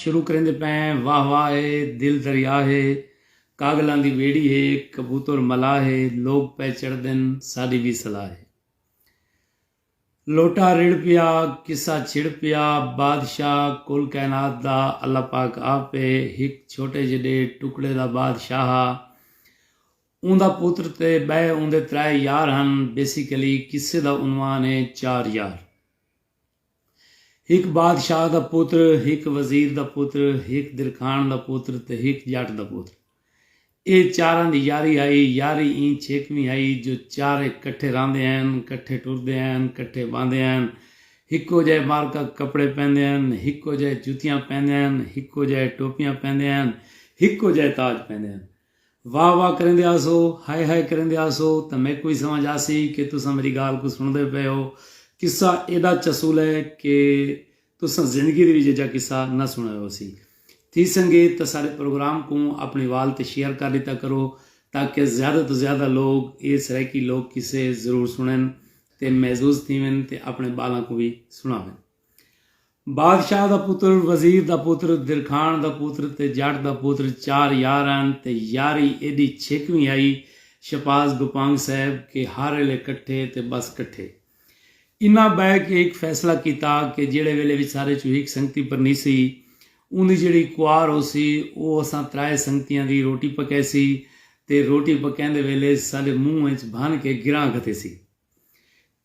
شروع کریندے پئیں واہ واہ اے دل دریا ہے کاڳلاں دی ٻیڑی ہے کبوتر ملاح ہے لوک پئے چڑھدن ساݙی وی صلاح ہے لوٹا رڑھ پیا قصہ چھڑ پیا بادشاہ کل کائنات دا اللہ پاک آپ ہے ہک چھوٹے جݙے ٹکڑے دا بادشاہ ہا اوندا پتر تے ٻئے اوندے ترائے یار ہن بیسیکلی قصے دا عنوان ہے چار یار۔ ہک بادشاہ دا پتر، ہک وزیر دا پتر، ہک درکھاݨ دا پتر تے ہک ڄٹ دا پتر۔ اے چاراں دی یاری ہئی، یاری ایں چھیکویں ہئی جو چارے کٹھے رہندے ہن، کٹھے ٹردے ہن، کٹھے ٻہندے ہن، ہکو جئے مارکا کپڑے پہندے ہن، ہکو جئے جتیاں پہندے ہن، ہکو جئے ٹوپیاں پہندے ہن، ہکو جئے تاج پہندے ہن۔ واہ واہ کریندے ہاسو، ہائے ہائے کریندے ہاسو تاں میکوں وی سمجھ آسی کہ تساں میڈی گالھ کوں سنڑدے پئے ہو۔ قصہ ایڈا چسول ہے کہ تساں زندگی دے وچ ایجھا قصہ نہ سنڑیا ہوسی۔ تھی سنگے تاں ساڈے پروگرام کوں اپنڑی وال تے شیئر کر ڈتا کرو تاکہ زیادہ توں زیادہ لوگ ایہ سرائیکی لوک قصے ضرور سنڑن تے معزوز تھیون تے اپنڑے بالاں کوں وی سنڑاون۔ بادشاہ دا پتر، وزیر دا پتر، درکھاݨ دا پتر تے جٹ دا پتر چار یار ہن تے یاری ایݙی چھیکویں ہئی شہباز گوپانگ صاحب کہ ہر ایلے کٹھے تے بس کٹھے۔ انہاں بئے کے ہک فیصلہ کیتا کہ جیڑھے ویلے وچارے چوں ہک سنگتی پرنیسی اوندی جیڑھی کوار ہوسی او اساں ترائے سنگتیاں دی روٹی پکیسی تے روٹی پکیندے ویلے ساݙے منہ اچ بھن کے گراں گھتیسی۔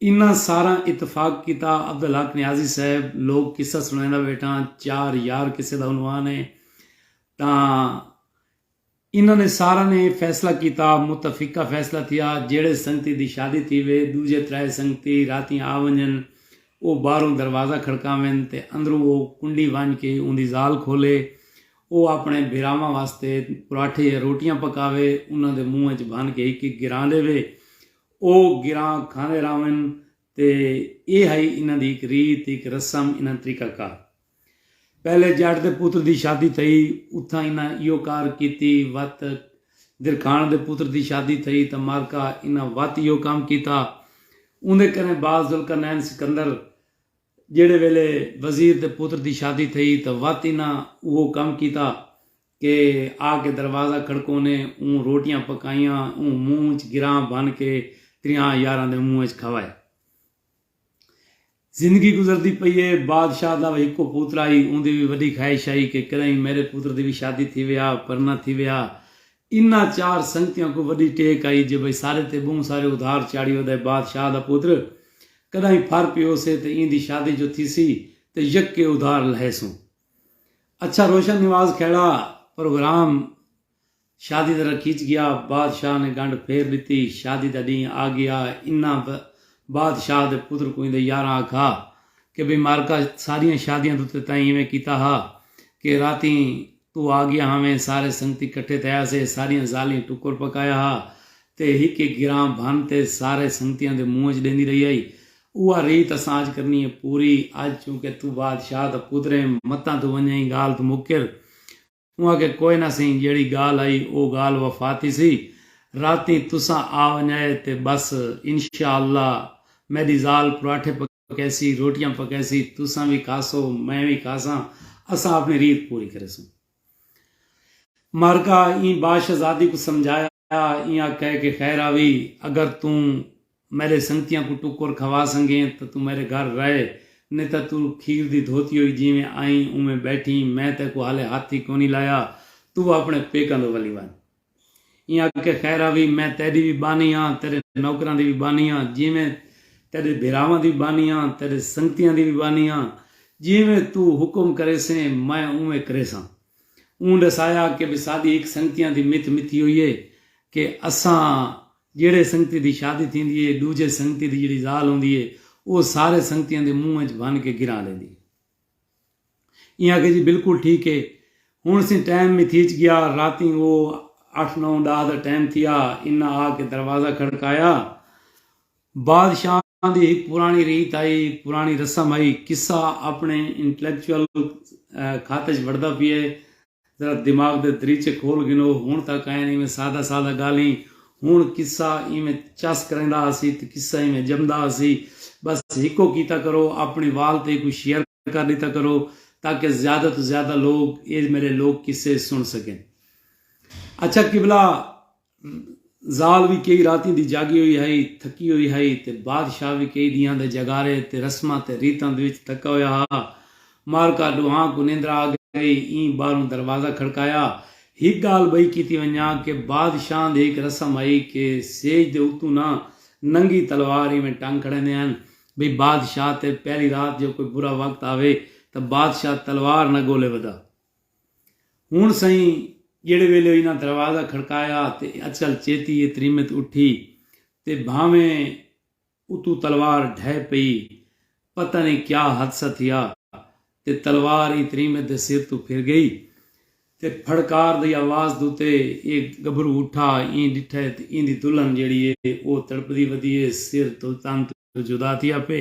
انہاں ساراں اتفاق کیتا۔ عبدالحق نیازی صاحب لوک قصہ سݨائیندا ویٹھاں، چار یار قصے دا عنوان ہے تاں انہاں نے ساراں نے فیصلہ کیتا، متفقہ فیصلہ تھیا جیڑھے سنگتی دی شادی تھیوے ݙوجھے ترائے سنگتی راتیں آ ونڄن او ٻاہروں دروازہ کھڑکاون تے اندروں او کنڈی ونڄ کے اوندی ذال کھولے او آپݨے بھیراواں واسطے پراٹھے یا روٹیاں پکاوے انہاں دے منہ اچ بھن کے ہک ہک گراں ݙیوے او گراں کھاندے رہون تے اے ہئی انہاں دی ہک ریت، ہک رسم، انہاں دا طریقہ کار۔ پہلے جٹ دے پتر دی شادی تھئی اتھاں انہاں ایہو کار کیتی وت درکھاݨ دے پتر دی شادی تھئی تاں معرکہ انہاں وت ایہو کم کیتا۔ اوندے کنیں بعد ذوالقرنین سکندر جیڑھے ویلے وزیر دے پتر دی شادی تھئی تاں وت انہاں اوہو کم کیتا کے آ کے دروازہ کھڑکونے اوں روٹیاں پکائیاں اوں منہ اچ گراں بھن کے تریہاں یاراں دے منہ اچ کھوائے۔ زندگی گزردی پئی اے بادشاہ دا وی ہکو پوترا ہئی اوندی وی وڈی خواہش ہئی کے کدائیں میڈے پوتر دی وی شادی تھیوے آ پر نہ تھیوے آ انہاں چار سنگتیاں کوں وڈی ٹیک ہئی جے بھئی سارے تے بہوں سارے ادھار چاڑھی اودے بادشاہ دا پوتر کدائیں پھر پیوسے تے ایندی شادی جو تھیسی تے یکے ادھار لہیسوں۔ اچھا روشن نواز کھیڑا پروگرام شادی دا رکھیچ گیا بادشاہ نے گنڈ پھیر ڈتی شادی دا ڈینہہ آگیا انہاں بادشاہ دے پتر کوں ایندے یاراں آکھا کہ بھئی مارکا ساریاں شادیاں دو تے تائیں ایویں کیتا ہا کہ راتیں تو آگیا ہاویں سارے سنگتی کٹھے تھیا سے ساریاں زالیں ٹکر پکایا ہا تے ہک ہک گراں بھن تے سارے سنگتیاں دے منہ اچ ڈیندی رہی ہئی اوہا ریت اساں اج کرنی اے پوری۔ اج چونکہ توں بادشاہ دا پتر ایں متاں توں ونجئیں گالھ توں مکر۔ اوں آکھیا کوئے نہ سئیں جیہڑی گالھ آئی او گالھ وفا تھیسی۔ راتیں تساں آ ونجائے تے بس انشاء اللہ میڈی ذال پراٹھے پکیسی روٹیاں پکیسی تساں وی کھاسو میں وی کھاساں اساں اپنی ریت پوری کریسوں۔ مارکا ایں با شہزادی کوں سمجھایا ایہاں کہہ کے خیر آوی اگر توں میڈے سنگتیاں کوں ٹکر کھوا سنگیں تاں توں میڈے گھر رہ نئیں تاں توں کھیر دی دھوتی ہوئی جیویں آئیں اونویں بیٹھیں میں تیکوں ہالے ہتھ ای کونی لایا توں اپنے پیکاں دو ولی ونج۔ ایں آکھیا خیر آ وی میں تیڈی وی بانی ہاں تیڈے نوکراں دی وی بانی ہاں جیویں تیڈے بھیراواں دی بانی ہاں تیڈے سنگتیاں دی وی بانی ہاں جیویں تو حکم کریسیں میں اونویں کریساں اوں ڈسایا کہ بی ساڈی ہک سنگتیاں دی متھ متھی ہوئی ہے کہ اساں جیڑھے سنگتی دی شادی تھیندی ہے ڈوجھے سنگتی دی جیڑھی زال ہوندی ہے او سارے سنگتیاں دے منہ اچ بھن کے گراں لیندی ہے ایں آکھیا جی بالکل ٹھیک ہے۔ ہن سیں ٹائم وی تھیچ گیا راتیں او اٹھ نو ڈاہ دا ٹائم تھیا انہاں آ کے دروازہ کھڑکایا۔ بادشاہ دی ہک پرانی ریت ہئی پرانی رسم ہئی قصہ اپنے انٹلیکچوئل خط اچ وڑدا پیا ہے ذرا دماغ دے دریچے کھول گھنو ہن تاں کائن ایویں سادہ سادہ گالھیں ہن قصہ ایویں چس کریندا ہسی تے قصہ ایویں جمدا ہسی بس ہکو کیتا کرو اپنی وال تے کوئی شیئر کر ݙتا کرو تاکہ زیادہ توں زیادہ لوگ اے میݙے لوک قصے سݨ سڳن۔ اچھا قبلہ! ذال وی کئی راتیں دی جاڳی ہوئی ہئی، تھکی ہوئی ہئی تے بادشاہ وی کئی ݙینہاں دے جاڳارے تے رسماں تے ریتاں دے وچ تھکا ہویا ہا۔ مارکا ݙوہاں کوں نیندرا آ ڳئی ایں ٻاہروں دروازہ کھڑکایا۔ ہک ڳالھ ٻئی کیتی ونڄاں کہ بادشاہاں دی ہک رسم ہئی کہ سیج دے اتوں نہ ننگی تلوار ایویں ٹنگ کھڑیندے ہن بھئی بادشاہ تے پہلی رات جو کوئی برا وقت آوے تاں بادشاہ تلوار نہ گولے ودا۔ ہن سئیں جیڑھے ویلے او انہاں دروازہ کھڑکایا تے اچل چیتی اے تریمت اٹھی تے بھانویں اتوں تلوار ڈھہہ پئی۔ پتہ نئیں کیا حادثہ تھیا۔ تے تلوار ایں تریمت دے سر توں پھر گئی تے پھڑکار دی آواز دو تے اے گبھرو اٹھا ایں ڈٹھے تے ایندی دلہن جیڑھی اے او تڑپدی ودی اے سر توں تن توں جدا تھیا پے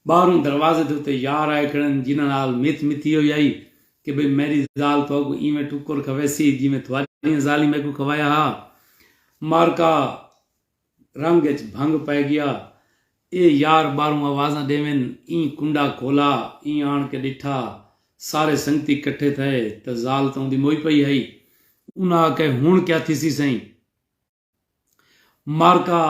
باہروں دروازے دے اتے یار آئے کھڑن جنہاں نال متھ متھی ہوئی ہئی کہ بھئی میڈی زال تہاکوں ایویں ٹکر کھویسی جیویں تہاڈیاں زالیں میکوں کھوایا ہا مارکا رنگ اچ بھنگ پئے گیا اے یار باہروں آوازاں ڈیون ایں کنڈا کھولا ایں آن کے ڈٹھا سارے سنگتی کٹھے تھئے تاں زال تاں اوندی موئی پئی ہئی انہاں آکھے ہن کیا تھیسی سئیں مارکا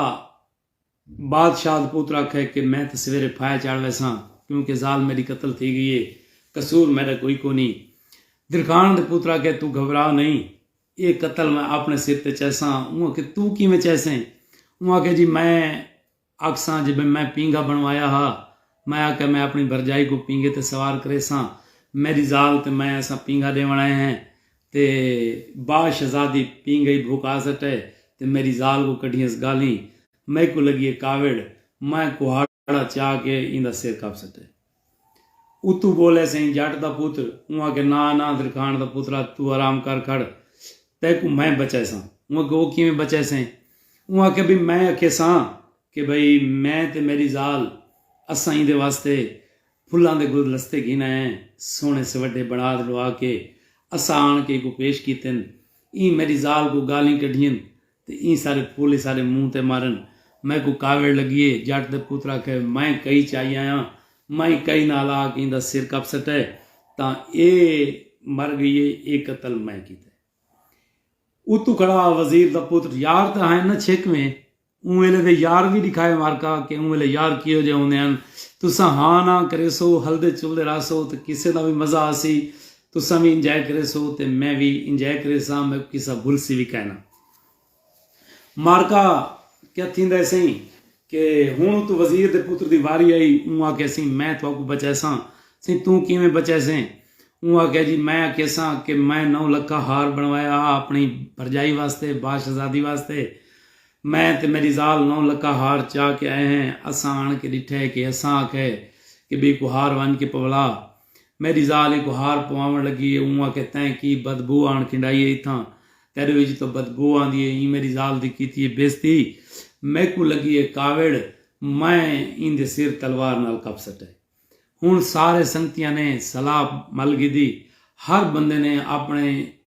بادشاہ دا پوتر آکھے کہ میں تاں سویرے پھائے چاڑھ ویساں کیوں کہ زال میڈی قتل تھی گئی اے قصور میڈا کوئی کونی درکھان دے پوتر آکھے توں گھبرا نئیں ایہ قتل میں آپݨے سر تے چیساں۔ اوں آکھیا توں کیویں چیسیں؟ اوں آکھیا جی میں آکھساں جے بھئی میں پینگھا بݨوایا ہا، میں آکھیا میں آپݨی بھرڄائی کوں پینگھے تے سوار کریساں، میݙی ذال تے میں اساں پینگھا ݙیوݨ آئے ہیں تے با شہزادی پینگھئی بھوکا سٹئے تے میݙی ذال کوں کڈھیس ڳالھیں، میکوں لڳی اے کاوڑ، میں کہاڑا چا کے ایندا سر کپ سٹئے۔ اتو بولے سئیں جٹ دا پتر اوں آکھیا نا نادر خان دا پترا تو آرام کر کھڑ تیکوں میں بچائیساں اوں آکھیا او کیویں بچائے سئیں اوں آکھیا بھئی میں آکھیساں کہ بھئی میں تے میڈی زال اساں ایندے واسطے پھلاں دے گلدلستے گھن آئے ہیں سوہنے سوڈھے بنڑا تے ڈوا کے اساں آن کے ایکوں پیش کیتن ایں میڈی زال کوں گالھیں کڈھین تے ایں سارے پھول اساݙے منہ تے مارن۔ میکوں کاوڑ لڳی اے، جٹ دے پتر آکھے، میں کئی چائی آیاں، میں کئی نال آ کے ایندا سر کپ سٹے تاں اے مر ڳئی اے، اے قتل میں کیتے۔ اتوں کھڑا وزیر دا پتر، یار تاں ہائیں نہ چھیکویں، اوں ویلے دے یار وی ݙکھائے مارکا کہ اوں ویلے یار کیہو جئے ہوندے ہن، تساں ہاں ناں کریسو، ہلدے چلدے رہسو تاں کسے دا وی مزہ آسی، تساں وی انجائے کریسو تے میں وی انجائے کریساں میکوں کسا بھلسی وی کائنا۔ مارکا، کیا تھیندا ہے سئیں کہ ہن اتوں وزیر دے پتر دی واری آئی اوں آکھیا سئیں میں تہاکوں بچائیساں۔ سئیں توں کیویں بچائیسیں؟ اوں آکھیا جی میں آکھیساں کہ میں نو لکھا ہار بنڑوایا ہا اپنڑی بھرجائی واسطے با شہزادی واسطے۔ میں تے میڈی زال نو لکھا ہار چا کے آئے ہیں اساں آنڑ کے ڈٹھے کہ اساں آکھئے کہ بی کوں ہار ونج کے پولا میݙی ذال ہی گہار پواوݨ لڳی ہے اوں آکھیا تیں کی بدبو آن کھنڈائی ہے اتھاں تیݙے وچ تاں بدبو آندی ہے ایں میݙی ذال دی کیتی ہے بیزتی میکوں لڳی ہے کاوڑ میں ایندے سر تلوار نال کپ سٹئے ہݨ سارے سنگتیاں نے صلاح مل گھدی ہر بندے نے آپݨے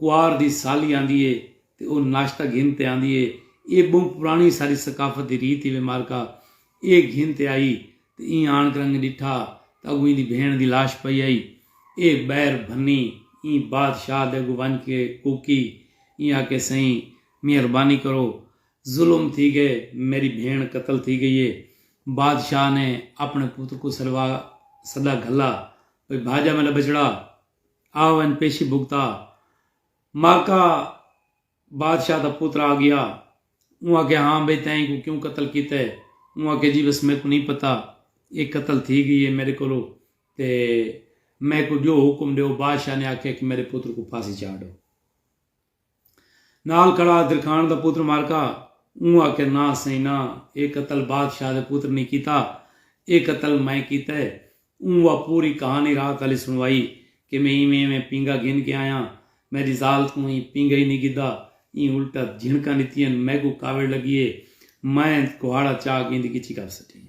کوار دی سالی آندی اے تے او ناشتہ گھن تے آندی اے۔ اے بہوں پرانی ساڈی ثقافت دی ریت ہیوے مارکا اے گھن تے آئی تے ایں آن کرنگ ڈٹھا تاں اگوں ایندی بھینڑ دی لاش پئی ہئی۔ اے بئر بھنی ایں بادشاہ دے اگوں ونج کے کوکی ایں آکھے سئیں مہربانی کرو ظلم تھی گئے میڈی بھینڑ قتل تھی گئی اے۔ بادشاہ نے اپنے پتر کوں سڈوا سدا گھلا بھئی بھاجا میڈا بچڑا۔ آ ونڄ پیشی بھگتا۔ ماکا بادشاہ دا پتر آ گیا۔ اوں آکھیا ہاں بھئی تیں ایکوں کیوں قتل کیتے؟ اوں آکھیا جی بس میکوں نئیں پتہ اے قتل تھی گئی اے میڈے کولوں تے میکوں جو حکم ڈیو بادشاہ نے آکھیا کہ میڈے پتر کوں پھانسی چاڈھو۔ نال کڑا درکھان دا پتر مارکا اوں آکھیا ناں سئیں ناں اے قتل بادشاہ دے پتر نی کیتا اے قتل میں کیتا ہے اوں وا پوری کہانی رات آلی سنوائی کہ میں ایویں ایویں پینگا گھن کے آیاں میڈی زال تھوں ایں پینگا ای نی گھدا ایں الٹا جھنکاں ڈتیاں میکوں کاوڑ لگی اے میں کہاڑا چا گیندی کچھی کر سٹی اے۔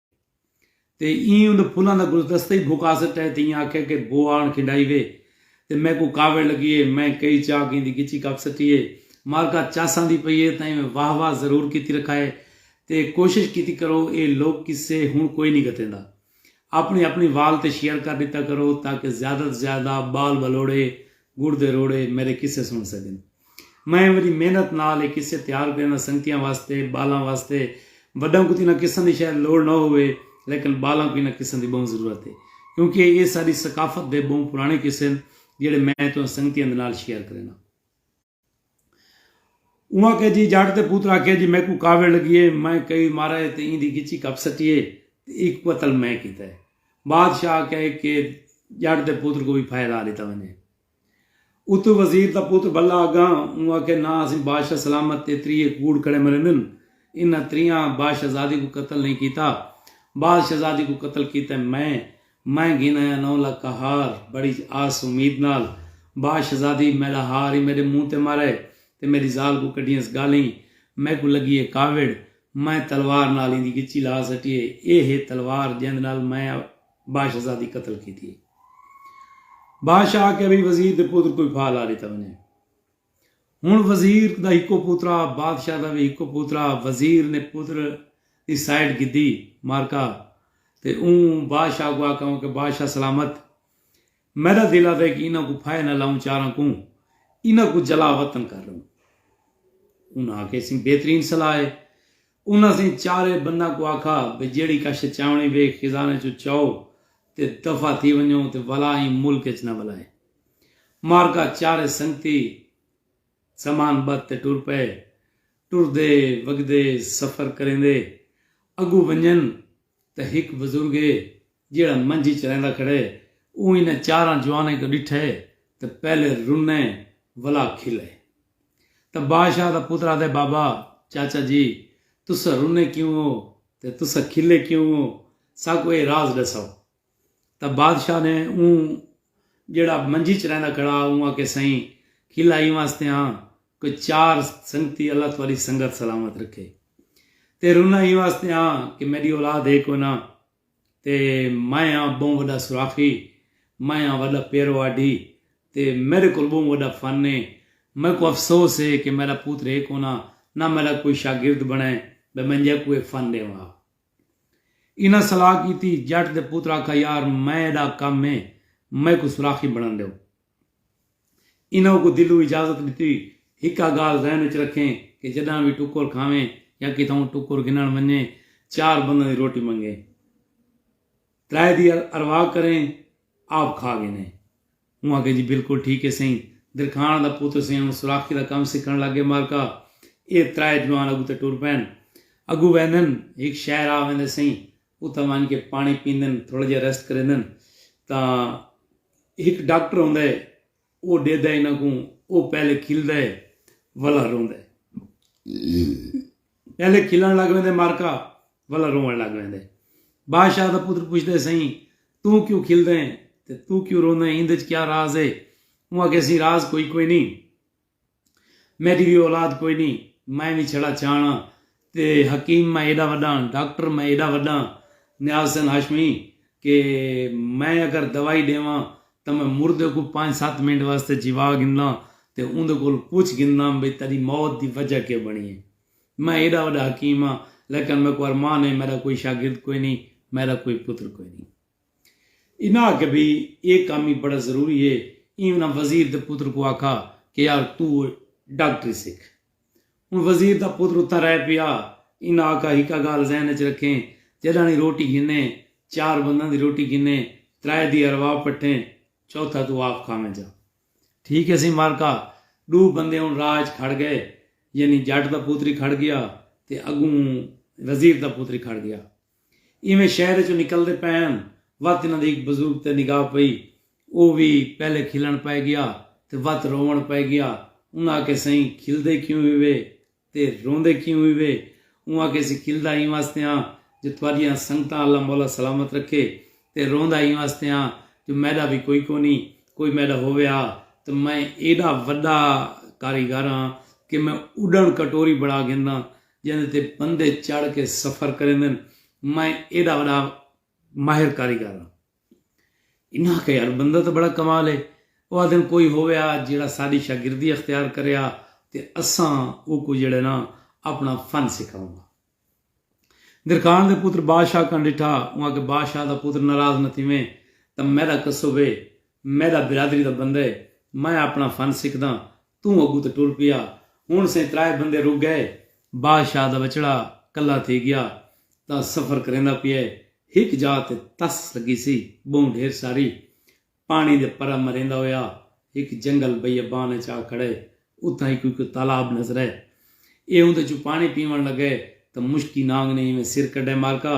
تے ایں انہاں پھلاں دا گلدستہ ای بھکا سٹا ہے تے ایاں آکھیا کہ بو آن کھنڈائی وے تے میکوں کاوڑ لگی ہے میں کئی چا ک ایندی گچی کپ سٹی ہے مالکہ چس آندی پئی ہے تاں ایویں واہ واہ ضرور کیتی رکھا ہے تے کوشش کیتی کرو اے لوک قصے ہن کوئی نی گھتیندا اپنی اپنی وال تے شیئر کر ڈتا کرو تاکہ زیادہ توں زیادہ بال بلوڑے گڑ دے روڑے میڈے قصے سن سگن۔ میں وݙی محنت نال اے قصے تیار کرے ناں سنگتیاں واسطے، ٻالاں واسطے۔ وݙاں کوں تاں انہاں قصاں دی شاید لوڑ نہ ہووے لیکن ٻالاں کوں انہاں قصاں دی ٻہوں ضرورت اے کیونکہ ایہ ساݙی ثقافت دے ٻہوں پراݨے قصے ہن جیڑھے میں تہاں سنگتیاں دے نال شیئر کرے ناں۔ اوں آکھیا جی جٹ دے پتر آکھیا جی میکوں کاوڑ لڳی اے میں کئی مارا اے تے ایندی ڳچی کپ سٹی اے تے ایہ قتل میں کیتا اے۔ بادشاہ آکھیا اے کہ جٹ دے پتر کوں وی پھائے لا ݙتا ونڄے۔ اتوں وزیر دا پتر بھلا اگاں اوں آکھیا نہ اسیں بادشاہ سلامت تے تریہہ کوڑ کھڑے مریندن انہاں تریہاں بادشاہزادی کوں قتل نئیں کیتا بادشاہزادی کوں قتل کیتے میں میں گھن آیا نو لکھا ہار بڑی آس امید نال بادشاہزادی میڈا ہار ای میڈے منہ تے مارے تے میڈی زال کوں کڈھیئنس گالیں میکوں لگی اے کاوڑ میں تلوار نال ایندی گچی لا سٹی اے اے ہے تلوار جیندے نال میں بادشاہ دی قتل کیتی ہے۔ بادشاہ آکھیا بھئی وزیر دے پتر کوئی پھا لا ڈیتا ونجے۔ ہن وزیر دا ہکو پوترا بادشاہ دا وی ہکو پوترا وزیر نے پتر دی سائیڈ گھدی مارکا تے اوں بادشاہ کو آکھاں کہ بادشاہ سلامت میڈا دل آدھے کہ انہاں کو پھائے نہ لاؤں چاراں کوں انہاں کو جلا وطن کر رہوں۔ انہاں آکھیا اسی بہترین صلاح ہے۔ انہاں سئیں چارے بنداں کوں آکھا بھئی جیڑھی کشت چاونڑی وے خزانے چوں چاؤ تے دفع تھی ونجو تے ولا ایں ملک اچ نہ ولائے۔ مارکا چارے سنگتی سامان ٻدھ تے ٹر پئے۔ ٹردے وگدے سفر کریندے اگوں ونجن تاں ہک بزرگ اے جیہڑا منجی چریندا کھڑے اوں انھاں چاراں جوانیں کوں ݙٹھے تاں پہلے رنے ولا کھلے تاں بادشاہ دا پتر آہدے بابا چاچا جی تساں رنے کیوں ہو تے تساں کھلے کیوں ہو ساکوں ایہ راز ݙساؤ تاں بادشاہ نے اوں جیہڑا منجی چریندا کھڑا ہا اوں آکھے سئیں کھلا ایں واسطے ہاں کہ چار سنگتی اللہ تہاݙی سنگت سلامت رکھے تے رنا ایں واسطے ہاں کہ میݙی اولاد ہے کوئناں تے میں آں ٻہوں وݙا سوراخی، میں آں وݙا پیرواڈھی تے میݙے کول ٻہوں وݙا فن اے، میکوں افسوس اے کہ میݙا پوتر اے کوناں نہ میݙا کوئی شاگرد بݨے ٻئے میں جیکوں اے فن ݙیواں ہا۔ انہاں صلاح کیتی، جٹ دے پوتر آکھا یار میݙا کم اے میکوں سوراخی بݨݨ ݙیو۔ انہاں اونکوں دلوں اجازت ݙتی۔ ہکا ڳالھ ذہن اچ رکھیں کہ جݙاں وی ٹکر کھاویں یا کتھاؤں ٹکر گھنݨ ونڄیں چار بنداں دی روٹی منگیں۔ ترائے دی ارواہ کریں آپ کھا گھنیں۔ اوں آکھیا جی بالکل ٹھیک ہے سئیں۔ درکھاݨ دا پتر سئیں ہݨ سوراخی دا کم سکھݨ لڳ ڳئے مالکا۔ ایہ ترائے جوان اڳوں تے ٹر پئن۔ اڳوں ویندن ہک شہر آ ویندے سئیں اتھاں ونج کے پانی پیندن تھوڑا جیہا ریسٹ کریندن تاں ہک ڈاکٹر ہوندا ہے او ڈیدا ہے انہاں کوں او پہلے کھلدا ہے ولا روندا ہے پہلے کھلن لگ ویندے مارکا ولا رون لگ ویندے بادشاہ دا پتر پوچھدا ہے سائیں تو کیوں کھلدا ہے تے تو کیوں روندا ہے ایندے وچ کیا راز ہے اوں آکھیا سی راز کوئی کوئی نہیں میݙی وی اولاد کوئی نی میں وی چھڑا چاݨ آں تے حکیم میں ایݙا وݙاں ڈاکٹر میں ایݙا وݙاں نیاز حسین ہاشمی کہ میں اگر دوائی ݙیواں تاں میں مردے کوں پنج ست منٹ واسطے جیوا گھنداں تے اوندے کولوں پچھ گھنداں بھئی تیݙی موت دی وجہ کے بݨی ہے میں ایݙا وݙا حکیم آں لیکن میکوں ارمان ہے میݙا کوئی شاگرد کوئی نی میݙا کوئی پتر کوئی نی۔ انہاں آکھیا بھئی اے کم وی بڑا ضروری اے، ایں انہاں وزیر دے پتر کوں آکھا کہ یار توں ڈاکٹری سکھ۔ ہن وزیر دا پتر اتھاں رہ پیا، انہاں آکھا ہکا گالھ ذہن اچ رکھیں جڈاݨی روٹی گھنیں، چار بنداں دی روٹی گھنیں، ترائے دی ارواح پٹھیں، چوتھا توں آپ کھاویں جا۔ ٹھیک اے سئیں مالکا، ڈو بندے ہن راہ اچ کھڑ گئے، یعنی جٹ دا پتر ہی کھڑ گیا تے اگوں وزیر دا پتر ہی کھڑ گیا۔ ایویں شہر اچوں نکلدے پئے ہن وت انہاں دے ہک بزرگ تے نگاہ پئی او وی پہلے کھلݨ پئے گیا تے وت رووݨ پئے گیا انہاں آکھے سئیں کھلدے کیوں ہیوے تے روندے کیوں ہیوے اوں آکھے سی کھلدا ایں واسطے ہاں جو تہاڈیاں سنگتاں اللہ مولا سلامت رکھے تے روندا ایں واسطے ہاں جو میڈا وی کوئی کونی کوئی میڈا ہووے ہا تاں میں ایڈا وڈا کاریگر ہاں کہ میں اڈݨ کٹوری بݨا گھنداں جیندے تے بندے چڑھ کے سفر کریندن، میں ایڈا وڈا ماہر کاریگر ہاں۔ انہاں آکھیا یار بندہ تاں بڑا کمال ہے۔ او آدھن کوئی ہوویا جیڑھا ساڈی شاگردی اختیار کریا تے اساں اوکوں جیڑھے نا اپنا فن سکھاواں گا۔ درکان دے پتر بادشاہ کن ڈٹھا، اوں آکھیا بادشاہ دا پتر ناراض نہ تھیویں تاں میڈا کسب ہے، میڈا برادری دا بندہ ہے، میں اپنا فن سکھداں توں اگوں تے ٹر پیا۔ ہن سئیں ترائے بندے رک گئے۔ بادشاہ دا ٻچڑا کلھا تھی ڳیا تاں سفر کریندا پئے۔ ہک جاء تے تس لڳی سی ٻہوں ڈھیر ساری۔ پاݨی دے پرا مریندا ہویا ہک جنگل بیابان ءچ آ کھڑئے۔ اتھاں ہک کوئی کوئی تالاب نظرئے۔ ایہ اوندے چوں پاݨی پیوݨ لڳئے تاں مشکی نانگ نے ایویں سر کڈھئے مالکا!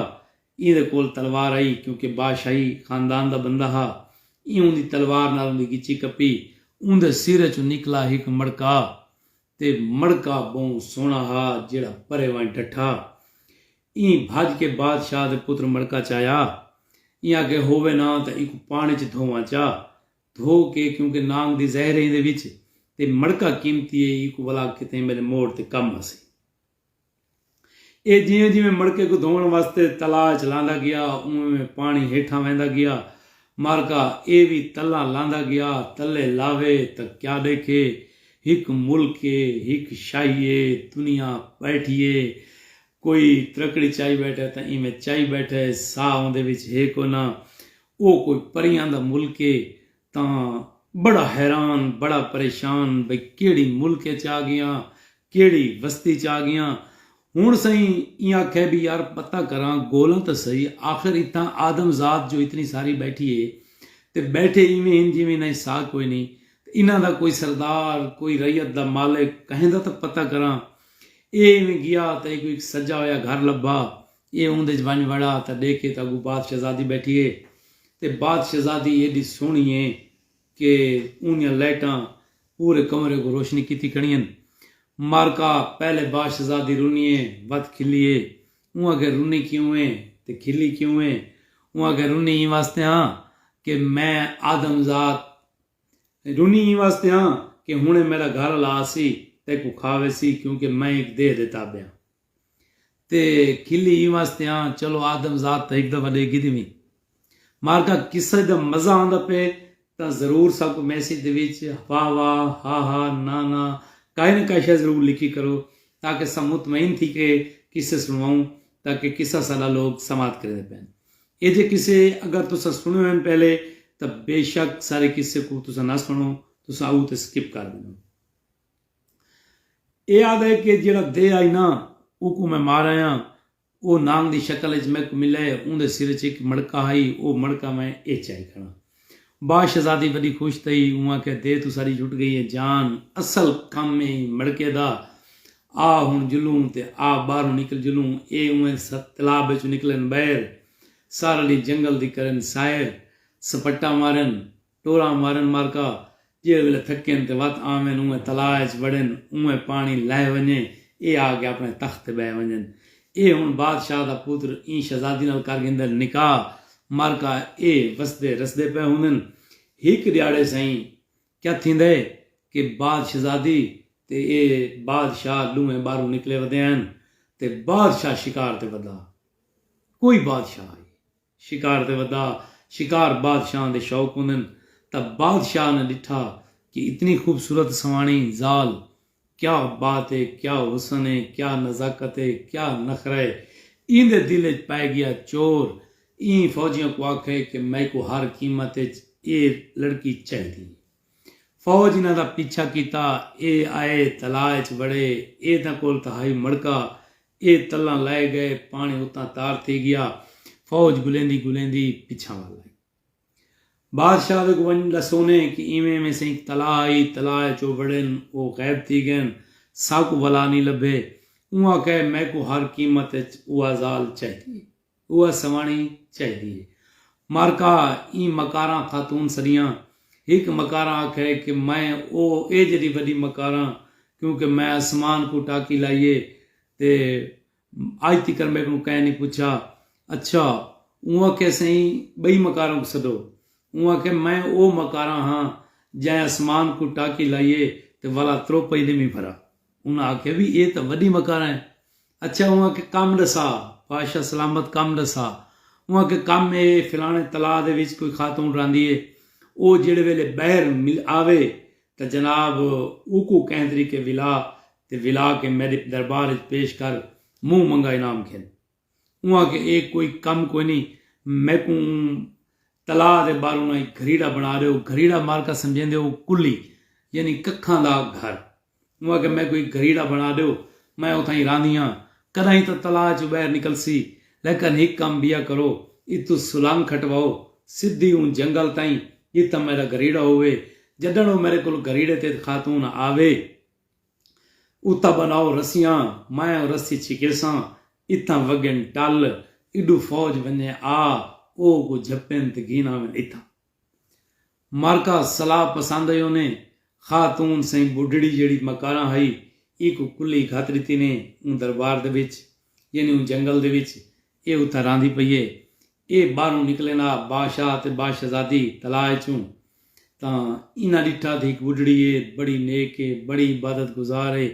ایندے کول تلوار ہئی کیونکہ بادشاہی خاندان دا بندہ ہا۔ ایں اوندی تلوار نال اوندی گچی کپی۔ اوندے سر اچوں نکلا ہک مڑکا تے مڑکا بہوں سوہنڑا ہا جیہڑا پرے ونج ڈٹھا۔ ایں بھج کے بادشاہ دے پتر مڑکا چایا۔ ایں آکھے ہووے نا تاں ایکوں پانڑیں اچ دھوواں چا۔ دھو کے کیونکہ نانگ دی زہر ہے ایندے وچ تے مڑکا قیمتی ہے ایکوں ولا کتھیں میڈے موڑ تے کم آسی۔ ایہ جیویں جیویں مڑکے کوں دھووݨ واسطے تلاء اچ لاندا گیا اونویں اونویں پاݨی ہیٹھاں ویندا گیا۔ مارکا ایہ وی تلاں لاندا گیا، تلے لاوے تاں کیا ݙیکھے، ہک ملک اے، ہک شاہی اے، دنیا ٻیٹھی اے، کوئی ترکڑی چائی ٻیٹھے تاں ایویں چائی ٻیٹھے، ساہ اوندے وچ ہے کوئناں، او کوئی پریاں دا ملک اے، تاں بڑا حیران بڑا پریشان بھئی کیڑھی ملک اچ آ گیاں کیڑھی وستی اچ آ گیاں ہنڑ سئیں ایں آکھیا بھئی یار پتہ کراں گولاں تاں سہی آخر اتھاں آدم ذات جو اتنی ساری بیٹھی اے تے بیٹھے ایویں ہن جیویں انہاں اچ ساہ کوئی نئیں تے انہاں دا کوئی سردار کوئی رعیت دا مالک کہیں دا تاں پتہ کراں اے ایویں گیا تاں ایکوں ہک سجا ہویا گھر لبھا ایہ اوندے ءچ ونج وڑا تاں ڈیکھے تاں اگو بات شہزادی بیٹھی ہے تے بات شہزادی ایڈی سوہنی ہے کہ اوندیاں لائٹاں پورے کمرے کوں روشنی کیتی کھڑیاں مارکا پہلے بات شہزادی رنی ہے وت کھلی ہے اوں آکھیا رنی کیوں ہے تے کھلی کیوں ہے اوں آکھیا رنی ایں واسطے ہاں کہ میں آدم زاد رنی ایں واسطے ہاں کہ ہنڑے میڈا گھر آلا آسی تیکوں کھا ویسی کیوں کہ میں ہک دیہہ دے تابع ہاں۔ تے کھلی ایں واسطے آں چلو آدم ذات تاں ہک دفعہ ڈیکھی دیویں۔ مارکا قصہ دا مزہ آندا پئے تاں ضرور ساں کوں میسج دے وچ وا وا، ہا ہا، نا نا کائے نہ کائے شئے ضرور لکھی کرو تاکہ ساں مطمئن تھی کے قصے سنواؤں تاکہ قصہ ساڈا لوگ سماعت کریندے پئن۔ ایجھے قصے اگر تساں سنے ہوئن پہلے تاں بے شک سارے قصے کوں تساں نہ سنو تساں اوہ تے سکپ کر ڈیندو۔ ایہ آہدا ہے کہ جیہڑا دے آئی نا اوکوں میں مارایاں او نانگ دی شکل اچ میکوں ملے اوندے سر اچ ہک مڑکا ہئی او مڑکا میں ایہ چائی کھڑاں با شہزادی وڈی خوش تھئی اوں آکھیا دے توں ساڈی چھٹ گئی ہے جان اصل کم ایں مڑکے دا آ ہن جلوں تے آ باہروں نکل جلوں ایہ اونہے تلاب اچوں نکلن بئیر سارلی جنگل دی کرن سائر سپٹا مارن ٹوراں مارن مارکا جیڑھے ویلے تھکین تے وت آون اونویں تلاء اچ وڑن اونویں پاݨی لہہ ونڄے ایہ آ کے اپݨے تخت تے ٻہہ ونڄن ایہ ہݨ بادشاہ دا پتر ایں شہزادی نال کر گھندن نکاح مارکا ایہ وسدے رسدے پئے ہوندن ہک ݙیہاڑے سئیں کیا تھیندے کہ باد شہزادی تے ایہ باد شاہ ݙوہیں ٻاہروں نکلے ودے ہن تے بادشاہ شکار تے ودا کوئی بادشاہ آئی شکار تے ودا شکار بادشاہاں دے شوق ہوندن تاں بادشاہ نے ڈٹھا کہ اتنی خوبصورت سواݨی ذال کیا بات ہے کیا حسن ہے کیا نزاکت ہے کیا نخرہ ہے ایندے دل اچ پئے گیا چور ایں فوجیاں کوں آکھئے کہ میکوں ہر قیمت اچ ایہ لڑکی چاہیدی ہے۔ فوج انہاں دا پیچھا کیتا۔ اے آئے تلاء اچ وڑے۔ اے تاں کول تاں ہئی مڑکا۔ اے تلاں لائے گئے۔ پاݨی اتاں تار تھی گیا۔ فوج گلیندی گلیندی پچھاں ول آئی۔ بادشاہ دے کوں ونڄ ݙسونے کہ ایویں ایویں سئیں ہک تلاء ہئی۔ تلاء اچ او وڑن۔ او غائب تھی ڳئن۔ ساکوں ولا نی لبھے۔ اوں آکھئے میکوں ہر قیمت اچ اوہا ذال چاہیدی اے۔ اوہ سواݨی چاہیدی ہے۔ مارکا ایں مکاراں خاتون سݙیاں۔ ہک مکاراں آکھئے کہ میں او اے جیݙی وݙی مکاراں کیونکہ میں اسمان کوں ٹاکی لائی ہے تے اڄ تکر میکوں کہیں نی پچھا۔ اچھا اوں آکھئے سئیں ٻئی مکاراں کوں سݙو۔ اوں آکھئے میں او مکاراں ہاں جئیں اسمان کوں ٹاکی لائی ہے تے ولا تروپئی نی وی بھرا۔ انہاں آکھیا وی اے تاں وڈی مکارا اے۔ اچھا اوں آکھیا کم ڈسا، پاشا سلامت کم ڈسا۔ اوں آکھیا کم اے فلانے تلاء دے وچ کوئی خاتون راہندی اے، او جیڑھے ویلے بئر مل آوے تاں جناب اوکوں کہیں طریقے ولا تے ولا کے میڈے دربار وچ پیش کر، منہ منگا انعام گھن۔ اوں آکھیا اے کوئی کم کوئی نی میکوں اوں تلا دے بالوں ناں ہک گھریڑا بنڑا ڈیو گھریڑا مارکا سمجھیندے او کلی یعنی ککھاں دا گھر اوں آکھیا میکوں ہک گھریڑا بنڑا ڈیو میں اتھائیں راہندیاں کڈاہیں تاں تلا اچ بہر نکلسی لیکن ہک کم بیا کرو اتھوں سلنگ کھٹواؤ سدھی اوں جنگل تائیں جتھاں میڈا گھریڑا ہووے جڈنڑ او میڈے کول گھریڑے تے خاتون آوے اتا بناؤ رسیاں میں او رسی چھکیساں اتھاں وگن ٹل ایڈو فوج ونجے آ او کو جھپن تے گھن آون اتھاں معرکہ سلاہ پسند ایو نے خاتون سئیں بڈھڑی جیڑی مکارا ہئی ای کو کلی گھت ڈتی نے اوں دربار دے وچ یعنی اوں جنگل دے وچ اے اتھاں راہندی پئی اے۔ اے باہروں نکلین آ باشاہ تے باشہزادی تلاء اچوں تاں انہاں ڈٹھا تھی ہک بڈھڑی اے بڑی نیک اے بڑی عبادت گزار اے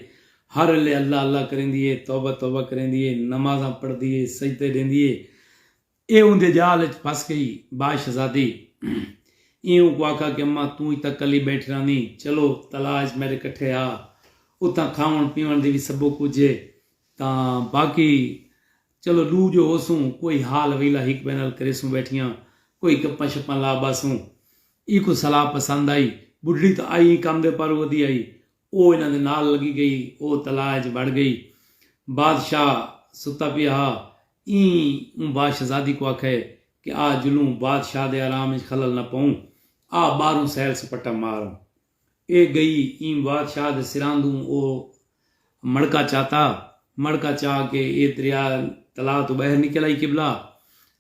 ہر ویلے اللہ اللہ کریندی اے توبہ توبہ کریندی اے نمازاں پڑھدی اے سجدے ڈیندی اے۔ اے اوندے جال اچ پھس گئی۔ باشہزادی ایں اونکوں آکھا کہ اماں توں اج تاں کلی بیٹھی راہندیں چلو تلاء اچ میڈے کٹھے آ اتھاں کھاون پیون دی وی سبو کجھ اے تاں باقی چلو ڈو جو ہوسوں کوئی حال ویلا ہک بئے نال کریسوں بیٹھیاں کوئی گپاں شپاں لا باسوں ایکوں صلاح پسند آئی بڈھڑی تاں آئی ایں کم دے پاروں ودی آئی او انہاں دے نال لگی گئی او تلاء اچ بڑ گئی بادشاہ ستا پیا ہا ایں اوں باشہزادی کوں آکھئے کہ آ جلوں بادشاہ دے آرام اچ خلل نہ پاؤں آ باہروں سیل سپٹا مار آؤں۔ اے گئی ایں وادشاہ دے سراندوں او مڑکا چاتا مڑکا چا کے اے دریا تلا توں باہر نکل آئی قبلہ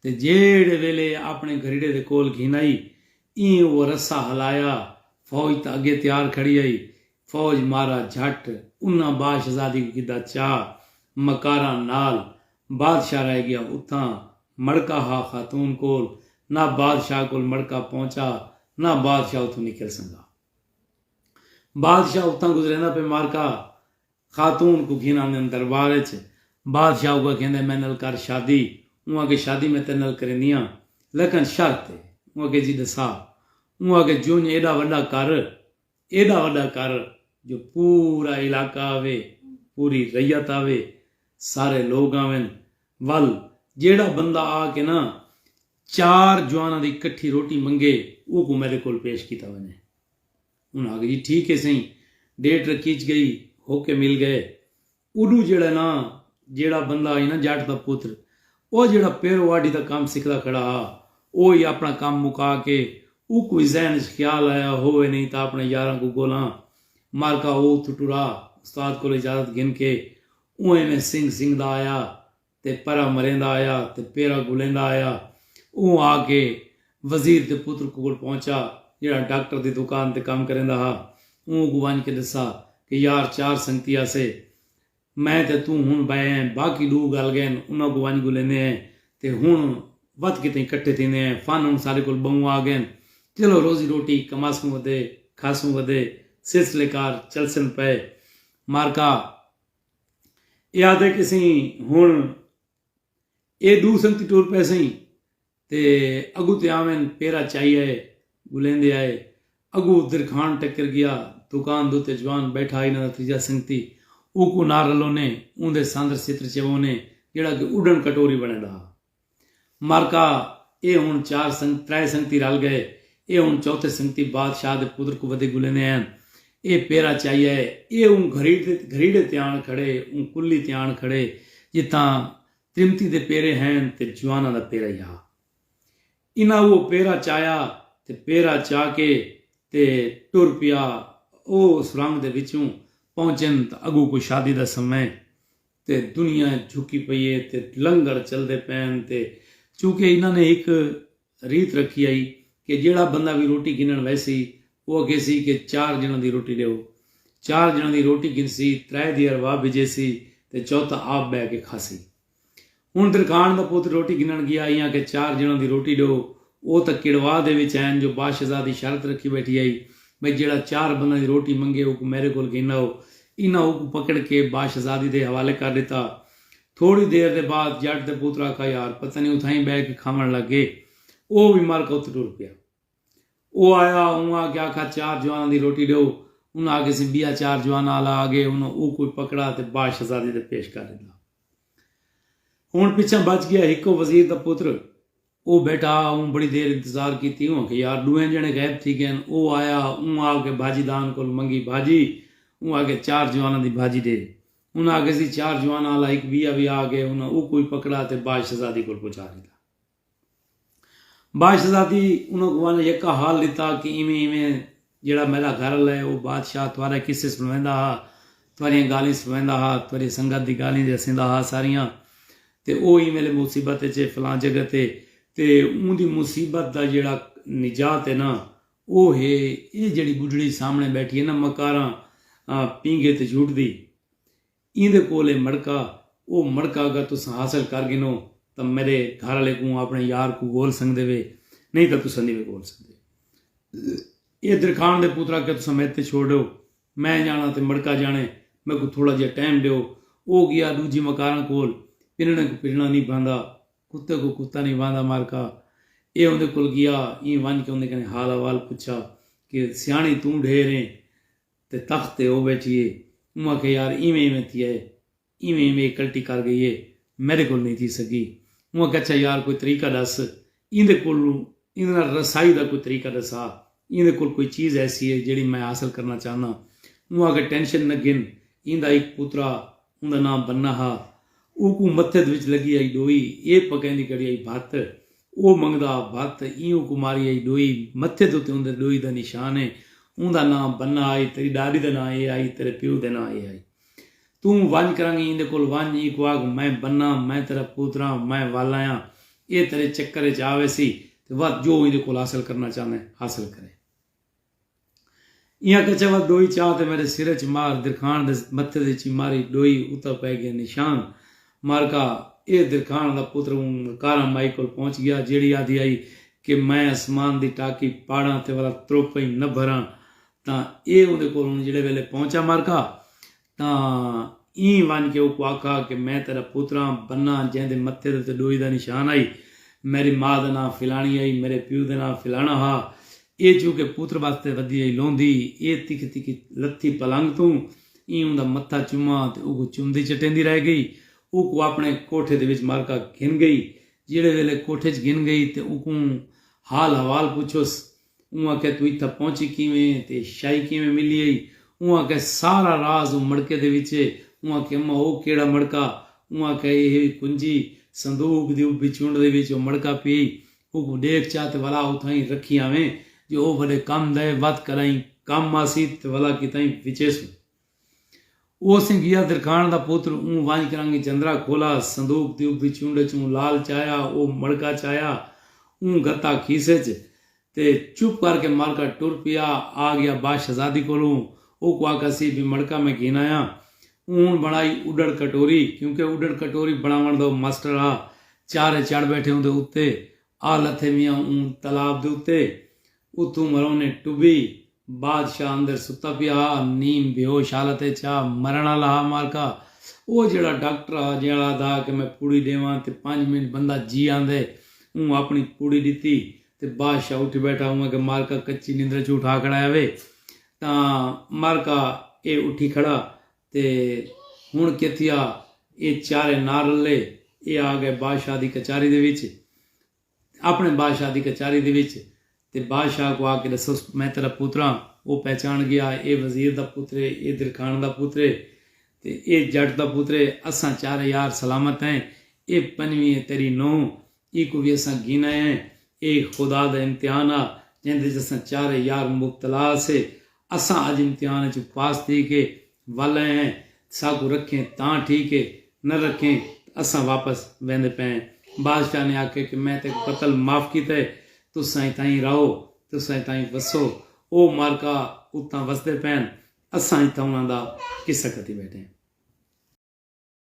تے جیہڑے ویلے اپنے گھریڑے دے کول گھن آئی ایں او رسہ ہلایا فوج تاں اگے تیار کھڑی آئی فوج مارا جھٹ انہاں باشزادی کوں گھدا چا مکاراں نال بادشاہ رہ گیا اتھاں مڑکا ہا خاتون کول نہ بادشاہ کول مڑکا پہنچا نہ بادشاہ اتھوں نکل سنگا بادشاہ اتھاں گزریندا پے مارکا خاتون کوں گھن آندن دربار اچ بادشاہ اوکوں اکھیندے میں نال کر شادی اوں اکھے شادی میں تیرے نال کریندیاں لکن شرط اے اوں اکھے جی ڈسا اوں اکھے جونج ایڈا وڈا کر ایڈا وڈا کر جو پورا علاقہ آوے، پوری رعیت آوے، سارے لوگ آون، ول جیڑھا بندہ آ کے نا چار جواناں دی کٹھی روٹی منگے اوکوں میڈے کول پیش کیتا ونجے۔ انہاں آکھیا جی ٹھیک ہے سئیں، ڈیٹ رکیچ گئی، ہوکے مل گئے۔ اڈو جیڑھا ہے نا جیڑھا بندہ ہئی نا جٹ دا پتر او جیڑھا پیرو آڈھی دا کم سکھدا کھڑا ہا او ہی اپنا کم مکا کے اوکوں ہی ذہن اچ خیال آیا ہووے نئیں تاں اپنے یاراں کوں گھولاں مارکا او اتھوں ٹرا استاد کولوں اجازت گھن کے اونہہ نے سنگھ سنگھدا آیا تے پرا مریندا آیا تے پیرا گلیندا آیا۔ اوں آ کے وزیر دے پتر کول پہنچا جیہڑا ڈاکٹر دی دکان تے کم کریندا ہا۔ اوں کوں ونج کے ڈسا کہ یار چار سنگتی آسے۔ میں تے توں ہن بئے ہیں باقی ڈو گل گئن انہاں کوں ونج گلیندے ہیں تے ہن ودھ کے تئیں کٹھے تھیندے ہیں۔ فن ہن ساڈے کول بہوں آ گئن۔ چلو روزی روٹی کماسوں ودے کھاسوں ودے سلسلے کار چلسن پئے۔ مارکا۔ اے آہدے کیسیں ہن اے ڈو سنگتی ٹر پیسیں تے اگو تے آوین پیرا چائی آئے گلیندے آئے اگو درکھان ٹکر گیا دکان دو تے جوان بیٹھا آئی نہ تیجا سنگتی اوکو نہ رلونے اوندے ساندر ستر چوونے جڑا کہ اڈن کٹوری بنے ڈا معرکہ، اے ہݨ چار سنگ ترائے سنگتی رل ڳئے، اے ہݨ چوتھے سنگتی بادشاہ دے پتر کوں ودھے ڳلیندے ہئن، اے پیرا چاہیا ہے، اے اوں گھریڑے تے آݨ کھڑے، اوں کلی تے آݨ کھڑے جتھاں تریمتی دے پیرے ہئن تے جواناں دا پیرا ہیا۔ انہاں اوہ پیرا چاہیا تے پیرا چا کے تے ٹر پیا، او سرنگ دے وچوں پہنچن تاں اڳوں کوئی شادی دا سمیں تے دنیا اچ جھکی پئی اے تے لنگر چلدے پئن تے چونکہ انہاں نے ہک ریت رکھی ہئی کہ جیڑھا بندہ وی روٹی گھنݨ ویسی او اکھیسی کہ چار ڄݨاں دی روٹی ݙیو چار ڄݨاں دی روٹی گھنسی ترائے دی ارواح بھیجیسی تے چوتھا آپ ٻہہ کے کھاسی ہݨ درکھاݨ دا پتر روٹی گھنݨ ڳیا ہئی آکھیا چار ڄݨاں دی روٹی ݙیو او تاں کڑوا دے وچ ہین جو باشہزادی شرط رکھی ٻیٹھی ہئی بھئی جیڑھا چار بنداں دی روٹی منگے اوکوں میݙے کولھ گھن آؤ۔ انہاں اوکوں پکڑ کے باشہزادی دے حوالے کر ݙتا۔ تھوڑی دیر دے بعد ڄٹ دے پوتر آکھا یار پتہ نی اتھاں ای ٻہہ کے کھاوݨ لڳ گئے۔ او وی مر کے اتھ ٹر پیا۔ او آیا اوں آ کے آکھا چار جواناں دی روٹی ݙیو۔ انہاں آکھیا سی ٻیا چار جواناں آلا آ گئے۔ انہاں اوکوں وی پکڑا تے باشہزادی دے پیش کر ݙتا۔ ہݨ پچھاں بچ ڳیا ہکو وزیر دا پتر۔ او بیٹھا ہا اوں بڑی دیر انتظار کیتی اوں آکھیا یار ڈوہیں جنڑے غیب تھی گئین او آیا اوں آ کے بھاجی دان کول منگی بھاجی اوں آکھیا چار جواناں دی بھاجی ڈے انہاں آکھیا سی چار جواناں آلا ہک بیا وی آ گئے انہاں اوکوں وی پکڑا تے باج شہزادی کول پہنچا ڈتا باج شہزادی انہاں کوں ونج یکا حال ڈتا کہ ایویں ایویں جیہڑا میݙا گھر آلا ہے، او بادشاہ تہاݙا قصے سݨویندا ہا، تہاݙیاں ڳالھیں سݨویندا ہا، تہاݙی سنگت دی ڳالھیں تے ہسیندا ہا ساریاں۔ تے او ایں ویلے مصیبت اچ ہے، فلاں جگہ تے، تے اوندی مصیبت دا جیہڑا نجات ہے ناں، او ہے ایہ جیہڑی ٻڈھڑی سامݨے ٻیٹھی ہے ناں مکاراں پینگھے تے جھوٹدی۔ ایندے کول اے مڑکا، او مڑکا اگر تساں حاصل کر گھنو تاں میڈے گھر آلے کوں آپنڑے یار کوں گھول سنگدے وے، نئیں تاں تساں نی وے گھول سنگدے۔ اے درکھان دے پترا کیا تساں میڈے تے چھوڑ ڈیو، میں جانڑاں تے مڑکا جانڑے، میکوں تھوڑا جیہا ٹائم ڈیو۔ او گیا ڈوجھی مکاراں کول، پنڑڑے کوں پنڑڑا نی بھاندا، کتے کوں کتا نی بھاندا مارکا۔ اے اوندے کول گیا، ایں ونج کے اوندے کنیں حال احوال پچھا کہ سیانڑی توں ڈھیر ایں، تے تخت تے او ٻیٹھی اے۔ اوں آکھیا یار ایویں ایویں تھیا اے۔ ایویں ایویں اے کلٹی کر گئی اے۔ میݙے کول نئیں تھی سڳی۔ اوں آکھیا اچھا یار کوئی طریقہ ݙس ایندے کول ایندے نال رسائی دا کوئی طریقہ ݙسا۔ ایندے کول کوئی چیز ایسی اے جیڑھی میں حاصل کرݨا چاہنداں۔ اوں آکھیا ٹینشن نہ گھن۔ ایندا ہک پترا اوندا ناں بنہ ہا۔ اوکوں متھد وچ لگی ہئی ڈوئی اے پکیندی کڑی ہئی بھت۔ او منگدا ہا بھت ایں اوکوں ماری ہئی ڈوئی متھد اتے اوندے ڈوئی دا نشان ہے۔ اوندا ناں بنہ ہئی تیڈی ڈاڈی دا ناں اے ہئی تیڈے پیو دے ناں اے ہئی۔ توں ونج کرنگیں ایندے کول ونج اینکوں آکھ میں بنہ میں تیڈا پوتراں میں والایاں اے تیڈے چکر وچ آویسی تے وت جو ایندے کول حاصل کرنا چاہندیں حاصل کریں۔ ایاں کچھے ول ڈوئی چا تے میڈے سر اچ مار درکھان دے متھے دی چی ماری ڈوئی اتا پے گئے نشان مارکا اے درکھان دا پتر اوں کاراں مائی کول پہنچ گیا جیڑی آدھی آئی کہ میں اسمان دی ٹاکی پاڑاں تے ولا تروپئیں نہ بھراں تاں اے اوندے کول ہن جیڑے ویلے پہنچا مارکا تاں ایں ونڄ کے اوکوں آکھا کہ میں تیݙا پتراں، بناں جئیں دے متھے دے اتے ݙوئی دا نشان ہئی، میݙی ماء دا ناں فلاݨی ہئی، میݙے پیو دے ناں فلاݨا ہا، ایہ چوں کے پتر واسطے ودی ہئی لوندھی، ایہ تکھی تکھی لتھی پلنگ توں، ایں اوندا متھا چماں تے اوکوں چمدی چٹیندی رہ گئی، اوکوں آپݨے کوٹھے دے وچ مرکا گھن گئی، جیڑھے ویلے کوٹھے ءچ گھن گئی تے اوکوں حال حوال پچھس اوں آکھیا توں اتھاں پہنچی کیویں ایں تے شاہی کیویں ملی ہئی؟ اوں آکھیا سارا راز اوں مڑکے دے وچ اے۔ اوں آکھیا اماں او کیڑھا مڑکا؟ اوں آکھیا اے ہئی کنجی، صندوق دی ابھی چنڈ دے وچ او مڑکا پی ہئی، اوکوں ڈیکھ چا تے ولا اتھاں ای رکھی آویں، جو او وڈے کم دا اے، وت کراہیں کم آسی تے ولا کیتاہیں وچیسوں۔ او سیں گیا درکھاݨ دا پتر اوں ونڄ کرانگیں چندرا کھولا صندوق دی ابھدی چونڈ اچ اوں لال چایا او مڑکا چایا اوں گھتا کھیسے اچ تے چپ کر کے مر کر ٹر پیا آ گیا با شہزادی کولوں او کو آکھا سی بی مڑکا میں گھن آیاں اون بنڑائی اڈڑ کٹوری کیونکہ اڈڑ کٹوری بنڑاوݨ دا او مسٹر ہا چارے چڑھ بیٹھے اوندے اتے آ لتھے میاں اوں تالاب دے اتے اتھوں مرونے ٹبی۔ بادشاہ اندر ستا پیا ہا، نیم بیہوش حالت اچ ہا، مرݨ آلا ہا مالکا۔ او جیہڑا ڈاکٹر ہا جیہڑا آدھا ہا کہ میں پوڑی ݙیواں تے پنج منٹ بندہ جی آندے، اوں اپݨی پوڑی ݙتی تے بادشاہ اٹھ بیٹھا اوں اگے مالکا کچی نندر اچوں اٹھا کھڑایا وے تاں مالکا اے اٹھی کھڑا تے ہݨ کے تھیا اے چارے نہ رلے اے آ گئے بادشاہ دی کچاری دے وچ۔ اپݨے بادشاہ دی کچاری دے وچ تے بادشاہ کوں آکھ کے ݙسوس میں تیݙا پتر ہاں۔ او پہچاݨ گیا اے وزیر دا پتر اے، اے درکھاݨ دا پتر اے تے اے جٹ دا پتر اے، اساں چارے یار سلامت ہیں، اے پنجویں اے تیݙی نونہہ، ایکوں وی اساں گھن آئے ہیں، اے خدا دا امتحان ہا جیندے وچ اساں چارے یار مبتلا ہاسے، اساں اج امتحان اچ پاس تھی کے ول آئے ہیں تے ساکوں رکھیں تاں ٹھیک ہے نہ رکھیں تے اساں واپس ویندے پئے ہیں۔ بادشاہ نے آکھیا کہ میں تیکوں قتل معاف کیتا ہے تساں اتھاں ای رہو تے تساں اتھاں ای وسو۔ او مارکا اتھاں وسدے پئے ہن اساں اتھاں انہاں دا قصہ کتی بیٹھے ہیں۔